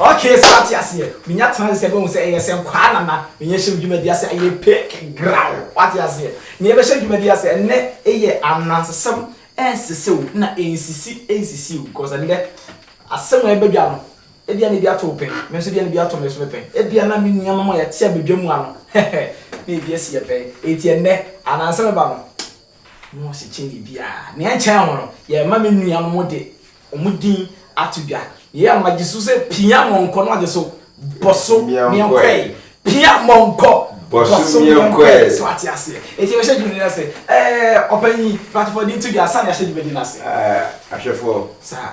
Okay, so ate aseɛ menya tena sɛ bɛhu sɛ ɛyɛ sɛ nkwaa nana menyɛ hyɛ dwumadi ase ɛyɛ pink graw wate aseɛ neɛ bɛhyɛ dwumadi ase ɛnɛ ɛyɛ anansesɛm ɛnsesɛ o na ɛnsisi ɛnsisi o because ɛnɛ asɛm a ɛbɛdwa no ebia na bi ato pɛn me nso bia na bi ato me so me pɛn ebia na me nneɛma ma yɛte abɛdwa mu ano na ebi asi yɛ pɛn eti ɛnɛ anansɛm ɛba no na wɔkyekyɛ biribiara. Nea ɛkyɛn ho no, yɛrema me nuanom de wɔn din ato dwa. Yei a, magye so sɛ pia mɔnkɔ na wagye so bɔso meɛnkɔɛe. Pia mɔnkɔ bɔso meɛnkɔɛe. So ate aseɛ? Enti yɛbɛhyɛ dwumadi no ase. Ɛɛ, ɔpanyin, patrɔfoɔ de nto dwa ansa na yɛahyɛ dwumadi no ase. Ɛɛ, ahwɛfoɔ. Saa.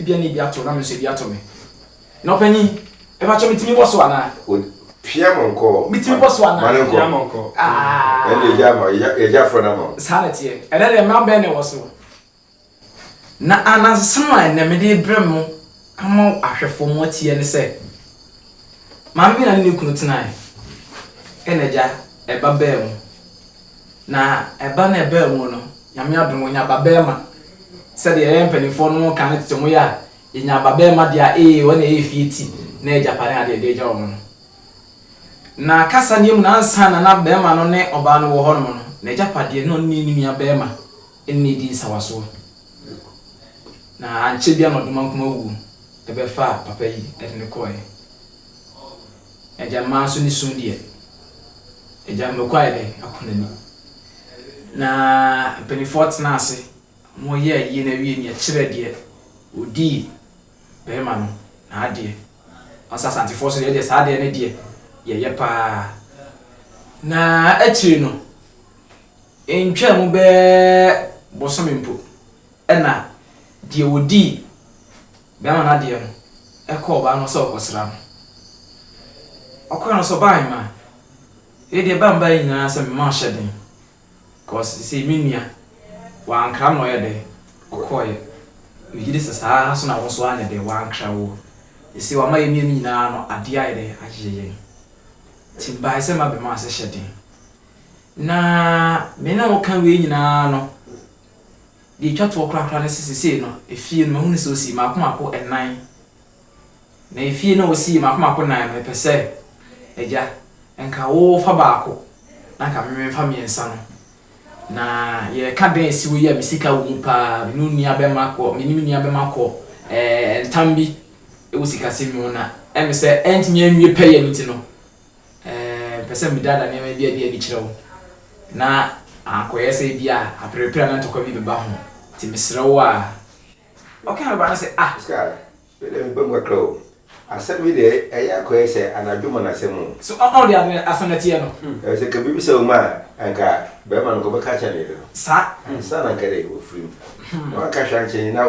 Ebia na ebi ato wo na me nso ebi ato me. Na ɔpanyin, mepakyɛw mitumi bɔ so anaa? Pia ma ɔnkɔ. Mitumi bɔ so anaa? Ma no nkɔ. Pia ma ɔnkɔ. Aah. Ɛnna yɛgya ama wo, yɛgya afra no ama wo. Saa na ɛteɛ. Ɛnnɛ deɛ mmara bɛn na ɛwɔ so? Na anansesɛm a ɛnnɛ mede rebrɛ mo ama ahwɛfoɔ mo atie ne sɛ, Maame bi na ne ne kunu tenae, ɛnna agya, ɛba baa mu. Na ɛba na ɛbaa mu no, Nyame adom, ɔnya babarima. Sɛdeɛ yɛn mpaninfoɔ nom ka no tete mo yɛ a, yɛnya babarima deɛ a, ee, wɔn na ɛyɛ efie ti, na ɛyɛ gyapade adeɛ yɛde agya wɔn no. Na kasaneɛ mu no, ansa na na barima no ne ɔbaa no wɔ hɔ nom no, n'agyapadeɛ na ɔne ne nua barima ne no redi nsawasoɔ. Na ankyɛ biara na Ɔdomankoma wuo bɛfaa papa yi de no kɔeɛ. Agya mmaa nso ne sum deɛ. Agya mmako ayɛ dɛn ako n'ani. Na mpanimfoɔ tenaa ase, wɔyɛɛ ayie no awie no yɛkyerɛɛ deɛ ɔdii barima no n'adeɛ. Wɔn sɛ Asantefoɔ nso deɛ yɛdeɛ saa adeɛ no deɛ yɛyɛ pa ara. Na akyire no, ɛntwaa mu bɛyɛ bosome mpo na deɛ ɔdii Bɛɛma no adeɛ no ɛkɔ ɔbaa no hɔ sɛ ɔrekɔsra no. Ɔkɔɛ no nso ɔbaa mma. Wei deɛ ɛbaa mbaeɛ nyinaa sɛ mma ɔhyɛ den cause seisei me nua wankra na ɔyɛ dɛn ɔkɔeɛ. Megye di sɛ saa ara nso na wo nso woanyɛ dɛn wankra wo. Seisei wama yɛn mmienu nyinaa no adeɛ ayɛ dɛn ayeyɛ yɛn. Nti mebaeɛ sɛ mma bɛma ase hyɛ den. Na me ne wo ka wei nyinaa no. Deɛ ɛtwa toɔ korakora ne sɛ seesei no, efie no, mahunu sɛ ɔsii mmaako mmaako nnan. Na efie no a ɔsii mmaako mmaako nnan no, mepɛ sɛ, Agya, nka wofa baako, na nka me memfa mmiɛnsa no. Na yɛreka dan a ɛsi hɔ yi a me sika wɔ mu pa ara, me ne wo nua bɛma kɔ, me ne me nua bɛma kɔ ɛɛ ntam bi wɔ sikasɛm mu, na ɛme sɛ ɛrentumi anwie pɛyɛ no nti no, Ɛɛ, mepɛ sɛ medaadaa nneɛma bi adi adi kyerɛ wo, na ankɔyɛ sɛ ebia aperepere anaa ntɔkwa bi bɛba ho. Nti mesrɛ wo a. Ɔkaa bɛba no sɛ, Ah! Oscar, mede me bam kakra o. Asɛm yi deɛ, ɛyɛ akɔyɛ sɛ anadwo ma no asɛm o. So ɔn ɔn deɛ ade no asɛm no teɛ no? Ɛfiri sɛ, ka bebisa wo ma a, anka bɛrima no, anka ɔbɛka akyerɛ ne yere no. Saa. Ansa na anka dɛ, wafiri mu. Na wanka hwee ankyerɛ ne yere, na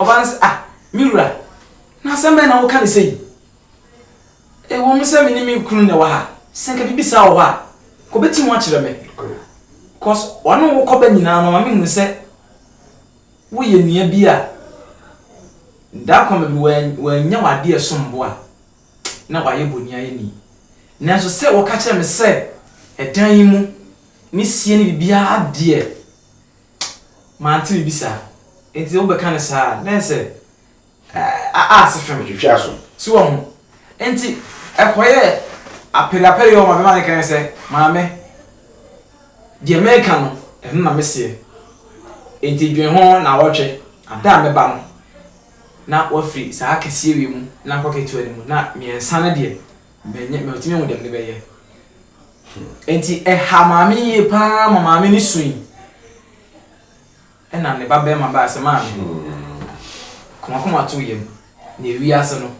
Ɔbaa no se, Ah, me wura, na asɛm bɛn na woka no sei? Ɛwom sɛ me ne me kunu na ɛwɔ ha, sɛ anka biribi saa wɔ hɔ a, anka obetim akyerɛ me. Kos ɔne wo kɔba nyinaa no, ɔma mehunu sɛ woyɛ nea bi a da koro mede wannya w'adeɛ a ɛsom bo a, na wayɛ boniayɛni. Nanso sɛ woka kyerɛ me sɛ ɛdan yi mu ne sie ne biribiara deɛ, Mante obi saa. Enti wo bɛka no saa a, then sɛ a a ase fem. Twitwi aso. So wahu? Enti ɛkɔ yɛ apere apere yɛ ɔma bɛma ne kane sɛ, Maame, deɛ meka no, ɛno na meseɛ. Enti dwen ho naawɔtwe, ada a mɛba no, na wafiri saa kɛseɛ wei mu na akɔ ketewa no mu, na mmiɛnsa no deɛ, Menyɛ metumi hu dɛm mebɛyɛ. Enti ɛha maame yie paa ma maame no sui. Ɛna ne ba bɛrima baa sɛ maame. Komakoma to yam na ewie ase no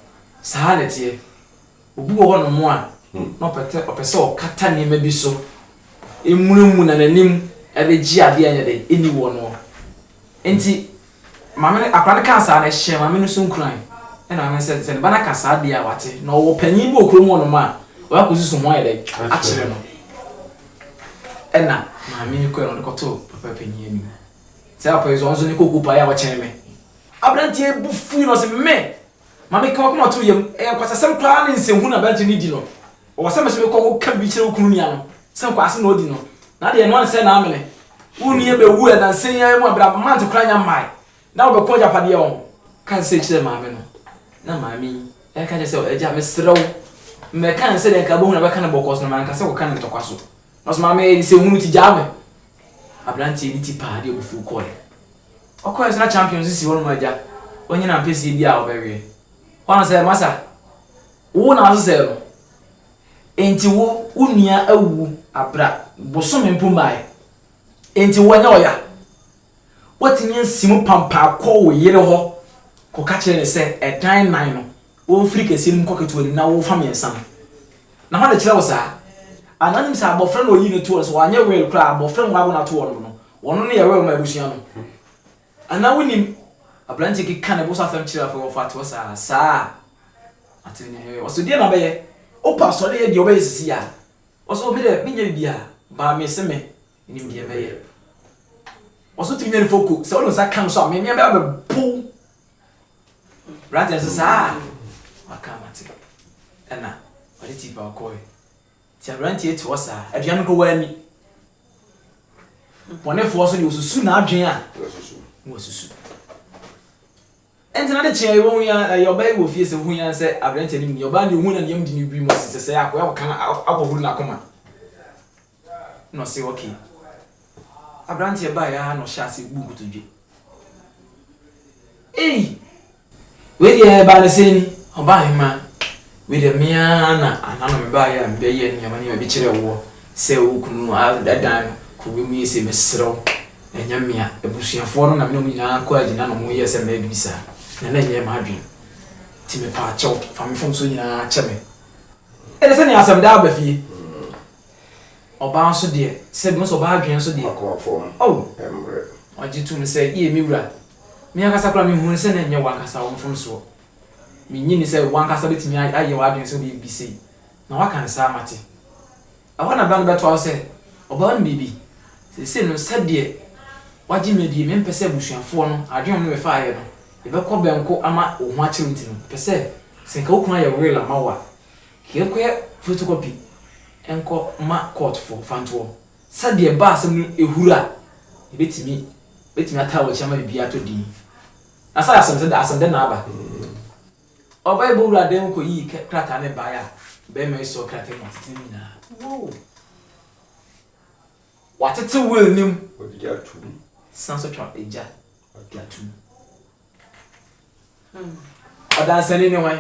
saa na ɛteɛ. Obi wɔ hɔ nom a na ɔpɛtɛ ɔpɛ sɛ ɔkata nneɛma bi so emunamuna n'anim ɛbɛgye adeɛ a ɛnyɛ dɛ ɛni wɔ noɔ. Enti Maame no, akwadaa no kaa saa no, ɛhyɛɛ maame no so nkuran. Ɛnna maame no sɛ, sɛ ne ba no aka saa deɛ a, wate. Na ɔwɔ panin bi wɔ kurom hɔnom a ɔyɛ akɔsusu ho ayɛ dɛn akyerɛ no. Ɛnna maame no kɔe na ɔde kɔtoo papa panin anim. Saa papa yi nso, ɔno nso ne koko paa yɛ a ɔkyɛn me. Aberanteɛ yi bo fui na ɔse, Me! Maame, ka w'akoma to yam. Ɛyɛ nkwasasɛm koraa ne nsɛnhunu a aberanteɛ no redi no. Ɔwɔ sɛ mese mekɔ ko ka bi kyerɛ wo kunu nua no sɛ nkwaase na ɔdi no na deɛ ɛnoa no sɛ na amene wo nua bɛwu ɛ nansa yi ara mu a bra month koraa nya mmae na wobɛko agyapadeɛ ɔn ka sei kyerɛ maame no na maame yi ɛka kyerɛ sɛ agya mesrɛ wo mmɛka ne sɛdeɛ nka abɛhu na bɛka ne bɔkɔɔ so na manka sɛ kɔka ne ntɔkwa so na so maame ɛyɛ sɛ hunu ti gyaa me aberanteɛ bi ti paa deɛ ɔbufuo kɔɛ ɔkɔɛ so na champions si hɔ no mu agya ɔnyina mpɛsie bi a ɔbɛweɛ hɔ no sɛ masa Wo na wosesɛɛ no, enti wo wo nua awu bere a bosome mpo mmae, enti woanyɛ ɔya. Woatumi asi mu pampan akɔ wo yere hɔ kɔka kyerɛ no sɛ, 'Ɛdan nnan no, womfiri kɛseɛ no mu nkɔ ketewa no mu na womfa mmiɛnsa no. Na hwan na ɛkyerɛɛ wo saa? Anaa wonim sɛ abɔfra na ɔyii no toɔ no, sɛ wanyɛ Will koraa a, abɔfra a wɔawo no atoɔ no no, ɔno na ɛyɛ Will mma abusua no? Anaa wonim aberanteɛ bi ka ne bo so asɛm kyerɛ afei wɔfa toɔ saa, saa atene ne hwee, ɔse deɛ na bɛyɛ, wopɛ asɔre yɛ deɛ wobɛyɛ sisi a, ɔse oh me deɛ menyɛ biribiaa baa mese me nim deɛ mɛyɛ, ɔse wotumi nya ne foko, sɛ wode wo nsa ka no so a me me bɛba bɛbo wo, aberanteɛ no se saa a, maka mate, ɛna ɔde tea pawa kɔɔɛ. Nti aberanteɛ yi te hɔ saa, aduane mpo wanni. Bɔnefoɔ nso deɛ, wɔsusu n'adwene a na wɔasusu. Ɛnti n'ade kyeeɛ yi, wɔhu yi ara, ɛyɛ ɔbaa yi wɔ fie sɛ, wɔhu yi ara sɛ aberanteɛ no nni. Ɔbaa no deɛ, ɔhuu na ne yam di no wirim, ɔse sɛ sɛɛ a, akɔyɛ akɔka no, akɔhuru n'akoma. Na ɔse ok. Aberanteɛ baeɛ ara na ɔhyɛɛ aseɛ buu nkotodwe. Ei! Wei deɛ ɛbaa no sei ni, Ɔbaahemaa, wei deɛ me ara na anaa na mebaeɛ a mebɛyɛ nneɛma nneɛma bi kyerɛɛ woɔ sɛ wo kunu adan no kɔ wiem yi sei, mesrɛ wo, ɛnyɛ me a, abusuafoɔ no na me ne wɔn nyinaa kɔɔ agyina na wɔyɛɛ sɛ mɛyɛ biribi saa, na na ɛnyɛ m'adwene. Nti mepaakyɛw, fa me mfomsoɔ nyinaa kyɛ me. Ɛnna sɛdeɛ asɛm daa ba fie. Ɔbaa nso deɛ, sɛ bɛhu sɛ ɔbaa adwene nso deɛ. Akoma fam oh! mmrɛ. Ɔgye to mu sɛ, Yie me wura. Me ankasa koraa me hunu sɛ na ɛnyɛ w'ankasa wo mfomsoɔ. Me nnye nni sɛ w'ankasa bɛtumi ayɛ w'adwene sɛ wobɛyɛ biribi sei, na woaka no saa mate. Ɛhɔ na bɛ no bɛtoa so sɛ, Ɔbaa no biribi. Seesei no sɛdeɛ wagye me adie, mempɛ sɛ abusuafoɔ no, adwene a wɔne me faeɛ no, yɛbɛkɔ bɛnko ama wo ho akyere wo nti no, mepɛ sɛ, sɛ nka wo kunu ayɛ will ama wo a, Yɛnkɔyɛ photocopy nkɔ ma court fo fa ntoɔ sɛ deɛ ɛba asɛm no ɛhuru a yɛbɛtumi bɛtumi ataa w'akyi ama biribiara atɔ din na sɛ asɛm sɛ asɛm dɛn na aba ɔbaa yi bɔwura dan mu kɔ yii krataa no baeɛ a barima yi sɔɔ krataa mu tete ne nyinaa wow watete will no mu san so twa agya de atom Ɔdansani ne hwan?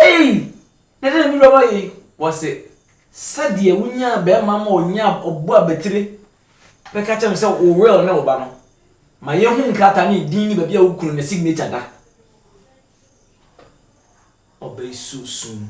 Ei! Na dɛn na me wura yi? Wɔse, sɛdeɛ wonyaa bɛrima ma ɔnyaa ɔbo abatire bɛka kyerɛ me sɛ wo will ne wo ba no, ma yɛhu nkrataa ne din ne baabi a wo kunu ne signature da. Ɔbaa yi suo sum.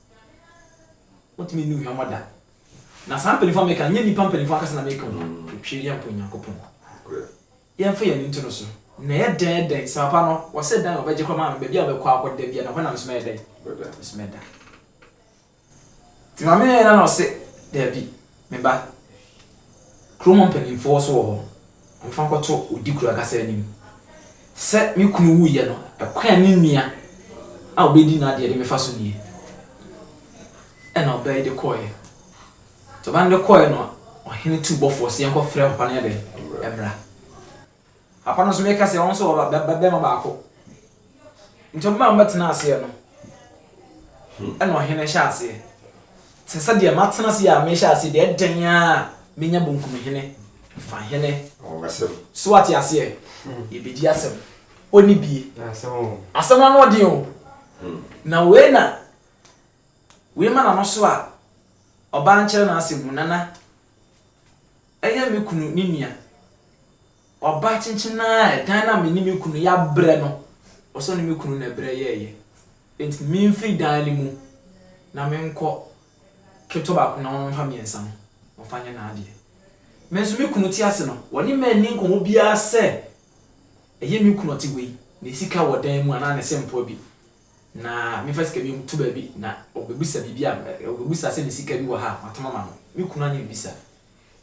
Wontumi nni ohuammɔ da. Na saa mpanyimfo a meka no, ɛnyɛ nnipa mpanyimfo ankasa na meka wɔn. Otwiri yɛ mpo Onyankopɔn. Yɛmfa yɛn ani nto no so. Na ɛyɛ dɛn, ɛyɛ dɛn? Sɛ papa no, wɔse dan a wɔbɛgye kɔ maame no, baabi a wɔbɛkɔ akɔ da biara, na hɔ na me nso mɛyɛ dɛn? Mɛda. Nti maame yɛɛ dɛn na ɔse, Dabi, Me ba, kurom hɔ mpanimfoɔ nso wɔ hɔ, wɔmfa nkɔto odikuro ankasa anim. Sɛ me kunu wuiɛ no, ɛkwan a me nua a ɔbɛdi n'adeɛ de mefa so nie. Ɛna ɔbaa yi de kɔeɛ. Nti ɔbaa no de kɔeɛ no, ɔhene tuu bɔfoɔ sɛ yɛnkɔfrɛ papa no yɛ dɛn? Mmra. Papa no nso bɛka sɛ wɔn nso wɔ ba- ba- ba- bɛrima baako. Nti wɔn a wɔbɛtena aseɛ no, ɛna ɔhene hyɛ aseɛ. Te sɛ deɛ matena ase yi a mehyɛ aseɛ deɛ ɛdɛn a menya bonkum hene, fa hene. Ɔbɛsɛm. So wate aseɛ? Yɛbɛdi asɛm. Ɔni bie. Asɛm o. Asɛm no ano ɔden o. Na wei na wei ma n'ano so a ɔbaa nkyerɛ n'asɛm mu nana. Ɛyɛ me kunu ne nua. Ɔbaa kyenkyen ara a ɛdan no a me ne me kunu yɛabrɛ no, ɔsɔ ne me kunu na ɛbrɛ yɛeɛ. Enti memfiri dan no mu na menkɔ ketewa baako no na ɔno mfa mmiɛnsa no ɔmfa nyɛ n'adeɛ. Me nso me kunu te ase no, ɔne me anni nkɔmmɔ biara sɛ ɛyɛ me kunu a ɔte hɔ yi na sika wɔ dan mu anaa ne sempoa bi Na memfa sika bi nto baabi, na ɔbɛbisa biribi a, ɔbɛbisa sɛ mesika bi wɔ ha a, matɔm ama no. Me kunu anyɛ biribi saa.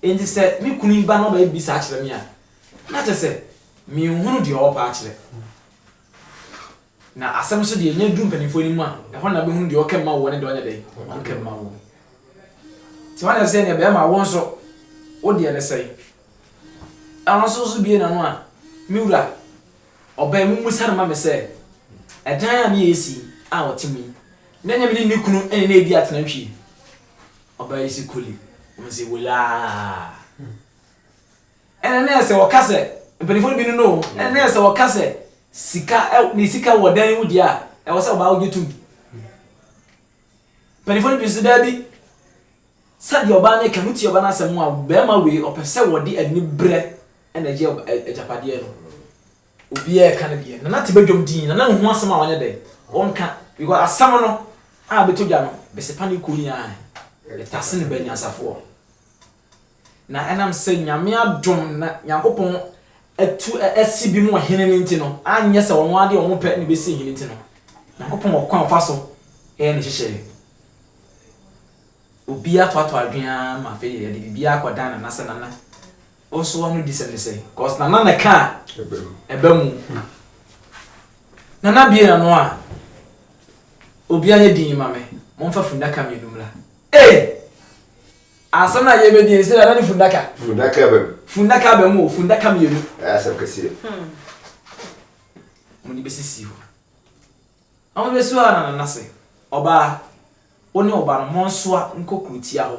Enti sɛ me kunu yi ba na ɔbɛyɛ biribi saa akyerɛ me a, na kyerɛ sɛ menhunu deɛ ɔrepɛ akyerɛ. Na asɛm nso deɛ, ɛnya duru mpanimfoɔ anim a, ɛhɔ na wobɛhunu deɛ ɔka mu ma woɔ ne deɛ ɔnyɛ dɛn, ɔnka mu ma woɔ. Nti hwan na ɛsɛ sɛ yɛne bɛrima wo nso, wo deɛ ne sɛn? Ɛno nso so bue n'ano a, me wura, Ɔbɛn me mu sane ma me sɛ ɛdan a ne yɛ si a ɔte mu yi, na ɛnyɛ me ne ne kunu ne no redi atenantwie. Ɔbaa yi se koli, wɔn se wolaa. Ɛna na ɛsɛ wɔka sɛ, mpanimfoɔ no bi no no, ɛna na ɛsɛ wɔka sɛ sika, ne sika wɔ dan mu deɛ a, ɛwɔ sɛ ɔbaa wogye tom. Mpanimfoɔ no bi nso daabi, sɛdeɛ ɔbaa no ka no, wotie ɔbaa no asɛm a, bɛrima wei ɔpɛ sɛ wɔde ani berɛ Ɛna agye agyapadeɛ no obiara ɛka no deɛ nana te badwam din nana nhu asɛm a ɔnyɛ dɛn ɔnka because asɛm no a ɛbɛtɔ dwa no bɛsepa ne kuro nyinaa ɛtase ne ba nyansafoɔ na ɛnam sɛ nyame adom na nyankopɔn atu asi bi mu ɔhene no nti no anyɛ sɛ ɔno adeɛ ɔno pɛ ne bɛsi ɔhene nti no nyankopɔn ɔkwan ɔfa so ɛyɛ ne hyehyɛeɛ obiara toatoa adwene ara ma afei yɛde biribiara akɔdan nana sɛ nana Wo nso wano di sɛm ne sɛn? Cos nana na ɛka ɛba mu. Nana bie nano a obia nyɛ din ma me momfa fundaka mmienu mmra. Ee! Asɛm na yɛ bɛdi ɛsɛ nana ne fundaka. Fundaka aba mu. Fundaka aba mu o fundaka mmienu. Ɛyɛ asɛm kɛseɛ. Hmm. Wɔn de bɛsisi hɔ. Na wɔn bɛsi hɔ a na nana se ɔbaa wo ne ɔba no monsoa nkɔ kurotia hɔ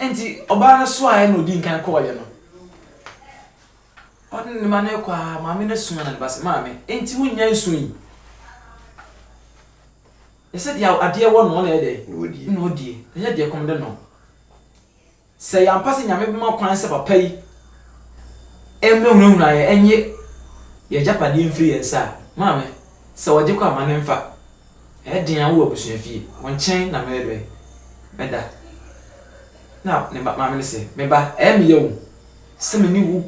Enti ɔbaa no soaa yɛn na ɔdii nkan kɔɔ yɛn no. Ɔne ne mma no rekɔ ara, maame no somaa no ba sɛ, Maame, enti wonnya nsuo yi? Ɛsɛ deɛ adeɛ wɔ no na ɛyɛ dɛn? Na ɔdie. Ɛsɛ deɛ ɛkɔm de no. Sɛ yɛ ampa sɛ Nyame bɛma kwan sɛ papa yi mmɛhunahuna yɛn, ɛnye yɛn agyapadeɛ mfiri yɛn nsa a, maame, sɛ ɔgye kɔ a, ma no mfa. Ɛyɛ den a wowɔ abusua fie. Wo nkyɛn na merebɛ bɛda. Ɛnna ne ba maame no se, Me ba, ɛyɛ me yaw sɛ me ne wo